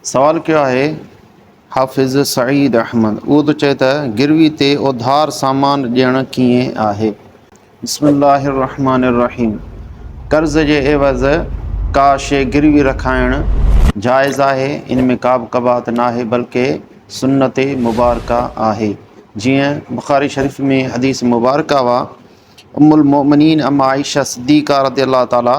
سوال ڪيو آهي حافظ سعيد احمد اهو ٿو چئي ته گروي تي اوڌار سامان ڏيڻ ڪيئن آهي. بسم الله الرحمٰن الرحيم قرض جي عيوض ڪا شي گروي رکائڻ جائز آهي ان ۾ ڪابه قباحت ناهي بلڪه سنت مبارڪه آهي جيئن بخاري شريف ۾ حديث مبارڪه اها ام المؤمنين ام عائشه صديقه رضي الله تعالٰي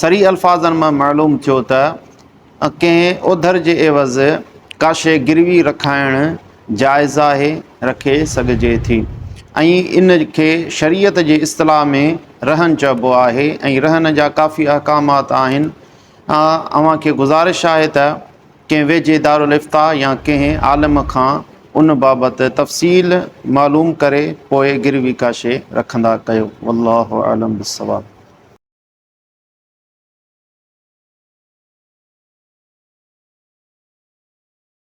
صريح الفاظن مان معلوم ٿيو ته ڪنهن اوڌر جي عيوض ڪا شيء گروي رکائڻ جائز آهي، رکي سگهجي ٿي ۽ ان کي شريعت جي اصطلاح ۾ رهن چئبو آهي ۽ رهن جا ڪافي احڪامات آهن. اوهان کي گذارش آهي ته ڪنهن ويجهي دارالافتاء يا ڪنهن عالم کان ان بابت تفصيل معلوم ڪري پوء گروي ڪاشي رکندا ڪيو والله اعلم بالصواب.